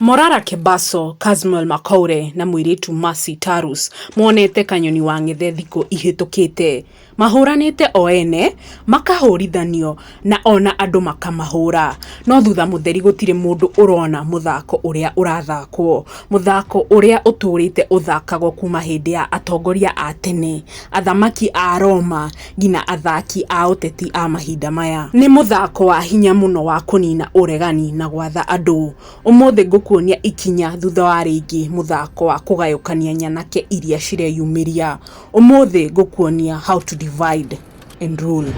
Morara Kebaso, Casmuel Makoure na mũirĩtu Mercy Tarus monete kanyoni wang'ethe thikũ ihĩtũkĩte. Mahũranĩte o ene, makahũrithanio na ona andũ makamahũra. No thutha mũtheri gũtirĩ mũndũ ũrona mũthako ũrĩa ũrathakwo. Mũthako ũrĩa ũtũrĩte ũthakagwo kuma hĩndĩ ya atongoria a tene, athamaki a Roma ngina athaki a ũteti a mahinda maya. Nĩ mũthako wa hinya mũno wa kũnina ũregani na gwatha andũ. Ũmũthĩ ngũkuonia ikinya thutha wa rĩngĩ mũthako wa kũgayũkania nyanake iria cireyumĩria. Ũmũthĩ ngũkuonia how to divide and rule.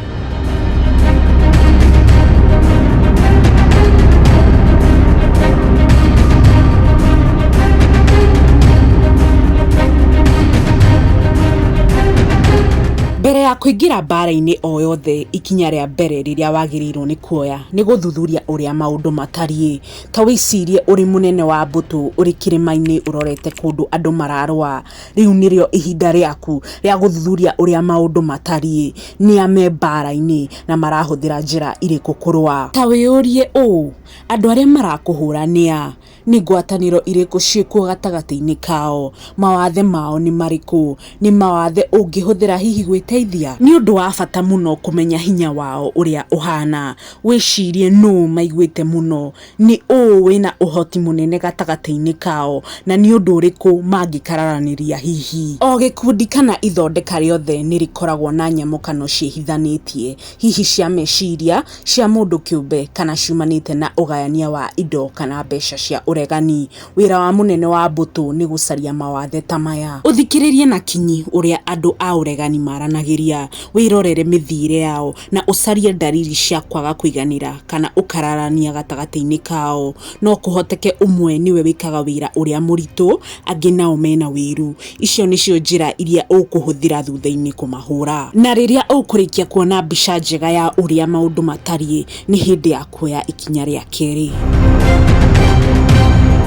Mbere ya kũingĩra mbaara-inĩ o yothe, ikinya rĩa mbere rĩrĩa wagĩrĩirũo nĩ kuoya. Nĩ gũthuthuria ũrĩa maũndũ matariĩ. Ta wĩcirie ũrĩ mũnene wa mbũtũ ũrĩ kĩrĩma-inĩ ũrorete kũndũ andũ mararũa. Rĩu nĩrĩo ihinda rĩaku rĩa gũthuthuria ũrĩa maũndũ matariĩ. Nĩ a me mbaara-inĩ, na marahũthĩra njĩra irĩkũ kũrũa? Ta wĩyũrie ũũ, 'Andũ arĩa marakũhũũra nĩ a? Nĩ ngwatanĩro irĩkũ ciĩkuo gatagatĩ-inĩ kao? Mawathe mao nĩ marĩkũ? Nĩ mawathe ũngĩhũthĩra hihi gwĩteithia? Nĩ ũndũ wa bata mũno kũmenya hinya wao ũrĩa ũhaana. Wĩcirie nũũ maiguĩte mũno. Nĩ ũũ wĩ na ũhoti mũnene gatagatĩ-inĩ kao, na nĩ ũndũ ũrĩkũ mangĩkararanĩria hihi? O gĩkundi kana ithondeka rĩothe nĩ rĩkoragwo na nyamũkano ciĩhithanĩtie. hihi cia meciria, cia mũndũ kĩũmbe, kana ciumanĩte na ũgayania wa indo kana mbeca cia ũregani. Wĩra wa mũnene wa mbũtũ nĩ gũcaria mawathe ta maya. Ũthikĩrĩrie na kinyi ũrĩa andũ a ũregani maranagĩria, wĩrorere mĩthiĩre yao, na ũcarie ndariri cia kwaga kũiganĩra kana ũkararania gatagatĩ-inĩ kao. No kũhoteke ũmwe nĩwe wĩkaga wĩra ũrĩa mũritũ, angĩ nao mena wĩiru. Icio nĩcio njĩra iria ũkũhũthĩra thutha-inĩ kũmahũũra. Na rĩrĩa ũkũrĩkia kuona mbica njega ya ũrĩa maũndũ matariĩ, nĩ hĩndĩ ya kuoya ikinya rĩa kerĩ.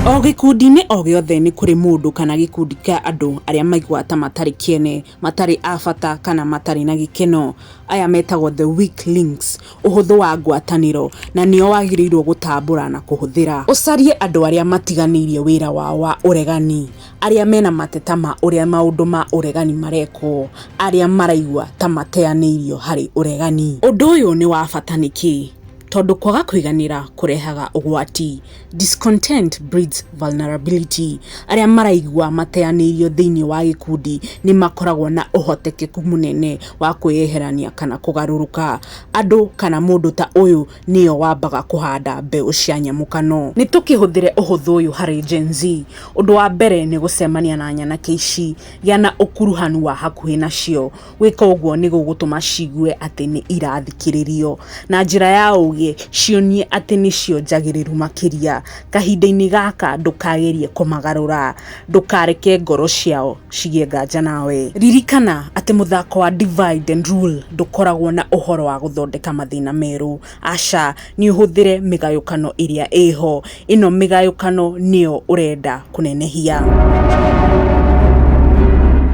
O gĩkundi-inĩ o gĩothe nĩ kũrĩ mũndũ kana gĩkundi kĩa andũ arĩa maiguaga ta matarĩ kĩene, matarĩ a bata, kana matarĩ na gĩkeno. Aya metagwo the weak links, ũhũthũ wa ngwatanĩro, na nĩo wagĩrĩirũo gũtambũra na kũhũthĩra. Ũcarie andũ arĩa matiganĩirie wĩra wao wa ũregani. arĩa mena mateta ma ũrĩa maũndũ ma ũregani marekwo arĩa maraigua ta mateanĩirio harĩ ũregani. Ũndũ ũyũ nĩ wa bata nĩkĩ? Tondũ kwaga kũiganĩra kũrehaga ũgwati, discontent breeds vulnerability, arĩa maraigua mateanĩirio thĩinĩ wa gĩkundi nĩ makoragwo na ũhotekeku mũnene wa kwĩyeherania kana kũgarũrũka. Andũ kana mũndũ ta ũyũ... nĩyo wambaga kũhanda mbeũ cia nyamũkano. Nĩ tũkĩhũthĩre ũhũthũ ũyũ harĩ Gen Z, ũndũ wa mbere nĩ gũcemania na nyanake ici, gĩa na ũkuruhanu wa hakuhĩ nacio. Gwĩka ũguo nĩ gũgũtũma ciigue atĩ nĩ irathikĩrĩrio. Na njĩra ya ũũgĩ, cionie atĩ nĩcio njagĩrĩru makĩria. Kahinda-inĩ gaka ndũkagerie kũmagarũra. ndũkareke ngoro ciao cigĩe nganja nawe. Ririkana atĩ mũthako wa Divide and Rule ndũkoragwo na ũhoro wa gũthondeka mathĩna merũ. Aca, nĩ ũhũthĩre mĩgayũkano ĩrĩa ĩ ho. Ĩno mĩgayũkano nĩyo ũrenda kũnenehia.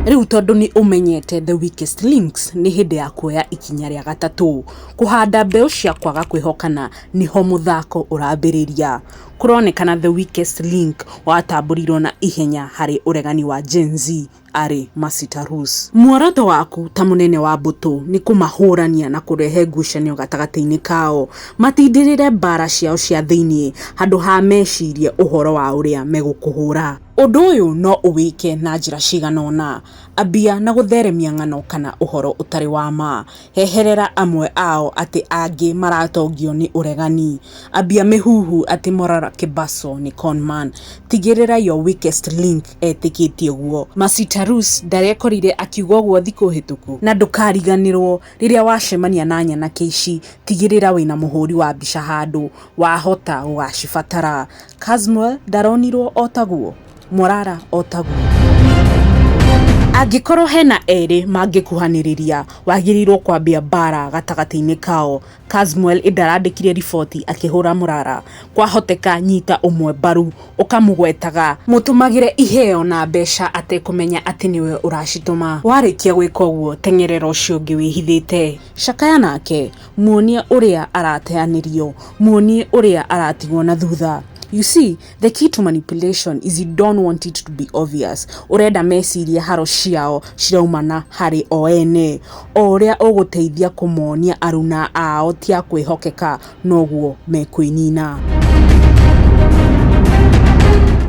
Rĩu tondũ nĩ ũmenyete the weakest links, nĩ hĩndĩ ya kuoya ikinya rĩa gatatũ. Kũhanda mbeũ cia kwaga kwĩhokana nĩho mũthako ũrambĩrĩria. kũronekana the weakest link watambũrirwo na ihenya harĩ ũregani wa Gen Z arĩ Masita Rus. Muoroto waku ta mũnene wa mbũtũ nĩ kũmahũrania na kũrehe ngucanio gatagatĩ-inĩ kao, matindĩrĩre mbaara ciao cia thĩinĩ handũ ha mecirie ũhoro wa ũrĩa megũkũhũra. Ũndũ ũyũ no ũwĩke na njĩra cigana ũna, ambia na gũtheremia ng'ano kana ũhoro ũtarĩ wa ma. heherera amwe ao atĩ angĩ maratongio nĩ ũregani ambia mĩhuhu atĩ morara kĩbaco nĩ conman tigĩrĩra your weakest link etĩkĩtie ũguo masitarus ndarekorire akiuga ũguo thikũ hĩtũku na ndũkariganĩrwo rĩrĩa wacemania na nyanake ici tigĩrĩra wĩna mũhũri wa mbica handũ wahota gũgacibatara casmuel ndaronirwo otaguo? morara o taguo angĩkorwo hena erĩ mangĩkuhanĩrĩria wagĩrĩirwo kwambia mbara gatagatĩ-inĩ kao Casmuel ĩndĩ arandĩkire riboti akĩhũra mũrara kwahoteka nyita ũmwe mbaru ũkamũgwetaga mũtũmagĩre iheo na mbeca atekũmenya atĩ nĩwe ũracitũma warĩkia gwĩka ũguo teng'erera ũcio ũngĩ wĩhithĩte cakaya nake muonie ũrĩa arateanĩrio muonie ũrĩa aratigwo na thutha you see The key to manipulation is you don't want it to be obvious. Ũrenda mecirie haro ciao ciraumana harĩ o ene. O ũrĩa ũgũteithia kũmonia aruna ao ti a kwĩhokeka noguo mekwĩnina.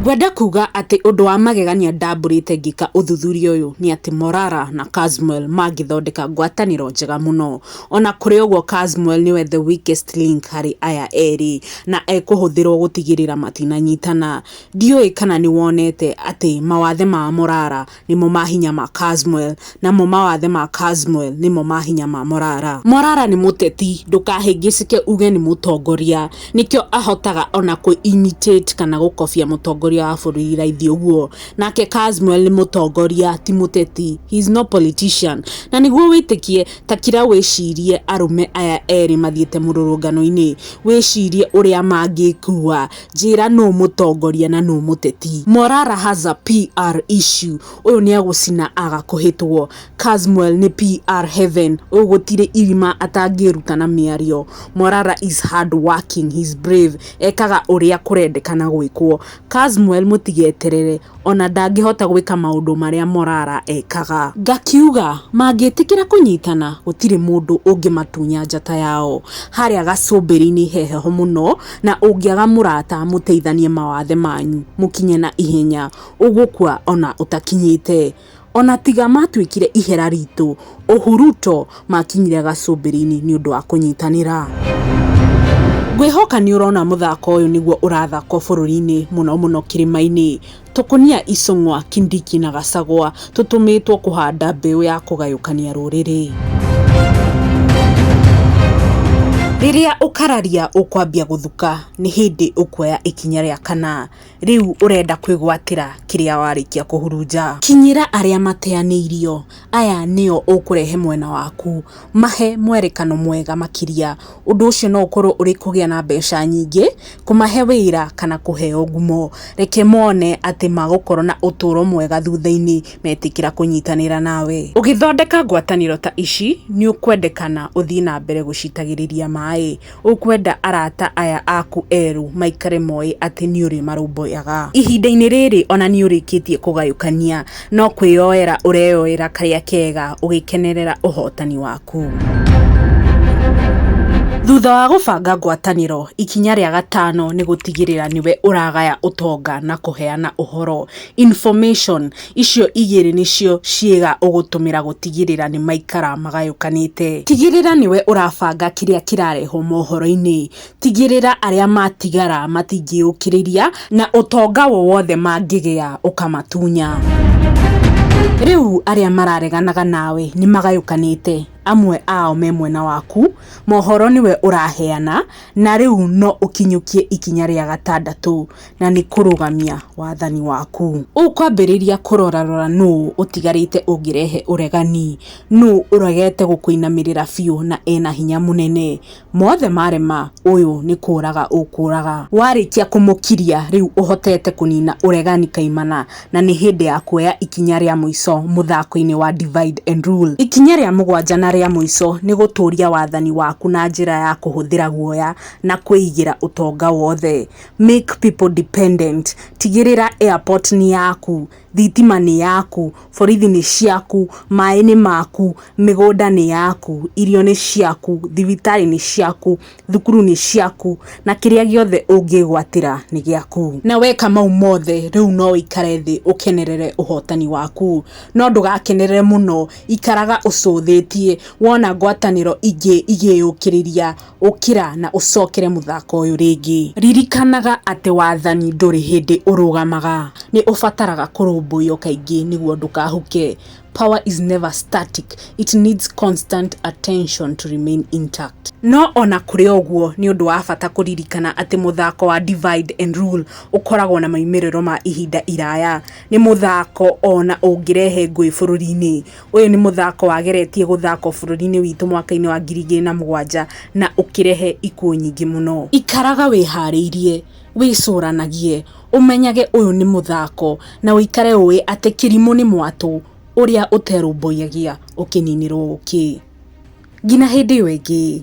Ngwenda kuga atĩ ũndũ wa magegania ndambũrĩte ngĩka ũthuthuria ũyũ nĩ atĩ Morara na Casmuel mangĩthondeka ngwatanĩro njega mũno. Ona kũrĩ ũguo Casmuel nĩwe the weakest link harĩ aya erĩ na ekũhũthĩrwo gũtigĩrĩra matinanyitana. Ndiũĩ kana nĩwonete atĩ mawathe ma Morara nĩmo ma hinya ma Casmuel namo mawathe ma Casmuel nĩmo ma hinya ma Morara. Morara nĩ mũteti ndũkahĩngĩcĩke uge nĩ mũtongoria nĩkĩo ahotaga ona kũ imitate kana gũkobia mũtongoria wa bũrũri raithi ũguo. Nake Casmuel nĩ mũtongoria ti mũteti. He is no politician. Na nĩguo wĩtĩkie Ta kira wĩcirie arũme aya erĩ mathiĩte mũrũrũngano-inĩ, wĩcirie ũrĩa mangĩkua. Njĩra nũ mũtongoria na nũ mũteti. Morara has a PR issue ũyũ nĩagũcina agakũhĩtwo. Casmuel nĩ PR heaven ũyũ gũtirĩ irima atangĩruta na mĩario. Morara is hardworking, he's brave, ekaga ũrĩa kũrendekana gwĩkwo. Casmuel mũtigeterere, o na ndangĩhota gwĩka maũndũ marĩa Morara ekaga. Ngakiuga, mangĩtĩkĩra kũnyitana, gũtirĩ mũndũ ũngĩmatunya njata yao. Harĩa gacũmbĩrĩ-inĩ he heho mũno, na ũngĩaga mũrata mũteithanie mawathe manyu, mũkinye na ihenya. Ũgũkua o na ũtakinyĩte. Ona tiga matwĩkire ihera ritũ, ũhu Ruto makinyire gacũmbĩrĩinĩ nĩũndũ wa kũnyitanĩra. Ngwĩhoka nĩũrona mũthako ũyũ nĩguo ũrathakwo bũrũriinĩ mũno mũno kĩrĩmainĩ. Tũkũnia, Icũng'wa, Kindiki na Gacagwa tũtũmĩtwo kũhanda mbĩũ ya kũgayũkania rũrĩrĩ. Rĩrĩa ũkararia ũkwambia gũthuka nĩ hĩndĩ ũkuoya ikinya rĩa kana. Rĩu ũrenda kwĩgwatĩra kĩrĩa warĩkia kũhurunja? Kinyĩra arĩa mateanĩirio, aya nĩo ũkũrehe mwena waku. Mahe mwerekano mwega makĩria. Ũndũ ũcio no ũkorũo ũrĩ kũgĩa na mbeca nyingĩ, kũmahe wĩra, kana kũheo ngumo. Reke mone atĩ magũkorũo na ũtũũro mwega thutha-inĩ metĩkĩra kũnyitanĩra nawe. Ũgĩthondeka ngwatanĩro ta ici, nĩ ũkwendekana ũthiĩ na mbere gũcitagĩrĩria maĩ. Ũkwenda arata aya aku erũ maikare moĩ atĩ nĩ ũrĩmarũmbũyaga? Ihinda-inĩ rĩrĩ o na nĩ ũrĩkĩtie kũgayũkania, no kwĩyoera ũreyoera karĩa kega ũgĩkenerera ũhotani waku. Thutha wa gũbanga ngwatanĩro, ikinya rĩa gatano nĩ gũtigĩrĩra nĩwe ũragaya ũtonga na kũheana ũhoro, information. Icio igĩrĩ nĩcio ciĩga ũgũtũmĩra gũtigĩrĩra nĩmaikara magayũkanĩte. Tigĩrĩra nĩwe ũrabanga kĩrĩa kĩrarehwo mohoro-inĩ. Tigĩrĩra arĩa matigara matingĩũkĩrĩria na ũtonga wowothe mangĩgĩa ũkamatunya. Rĩu arĩa marareganaga nawe nĩmagayũkanĩte. Amwe ao me mwena waku, mohoro nĩwe ũraheana, na rĩu no ũkinyũkie ikinya rĩa gatandatũ. na nĩ kũrũgamia wathani waku. Ũkwambĩrĩria kũrorarora nũũ ũtigarĩte ũngĩrehe ũregani, nũũ ũregete gũkũinamĩrĩra biũ na e na hinya mũnene. Mothe marema, ũyũ nĩ kũũraga ũkũũraga. Warĩkia kũmũkiria, rĩu ũhotete kũnina ũregani kaimana na nĩ hĩndĩ ya kuoya ikinya rĩa mũico mũthako-inĩ wa Divide and Rule. Ikinya rĩa mũgwanja na rĩa mũico nĩ gũtũũria wathani waku na njĩra ya kũhũthĩra guoya na kwĩigĩra ũtonga wothe. make people dependent, tigĩrĩra airport nĩ yaku, thitima nĩ yaku, borithi nĩ ciaku, maĩ nĩ maku, mĩgũnda nĩ yaku, irio nĩ ciaku, thibitarĩ nĩ ciaku, thukuru nĩ ciaku, na kĩrĩa gĩothe ũngĩgwatĩra nĩ gĩaku. Na weka mau mothe rĩu no ũikare thĩ ũkenerere ũhotani waku. No ndũgakenerere mũno, ikaraga ũcũthĩtie wona ngwatanĩro ingĩ igĩyũkĩrĩria. Ũkĩra na ũcokere mũthako ũyũ rĩngĩ. Ririkanaga atĩ wathani ndũrĩ hĩndĩ ũrũgamaga, nĩ ũbataraga kũrũmbũyio kaingĩ nĩguo ndũkahuke. Power is never static, it needs constant attention to remain intact. No o na kũrĩ ũguo, nĩ ũndũ wa bata kũririkana atĩ mũthako wa divide and rule ũkoragwo na moimĩrĩro ma ihinda iraya. Nĩ mũthako o na ũngĩrehe ngũĩ bũrũri-inĩ. Ũyũ nĩ mũthako wageretie gũthakwo bũrũri-inĩ witũ mwaka-inĩ wa ngiri igĩrĩ na mũgwanja na ũkĩrehe ikuũ nyingĩ mũno. Ikaraga wĩharĩirie, wĩcũranagie, ũmenyage ũyũ nĩ mũthako na ũikare ũĩ atĩ Kirimũ nĩ mwatũ ũrĩa ũterũmbũyagia ũkĩninĩrwo ũkĩ. Ngina hĩndĩ ĩyo ĩngĩ.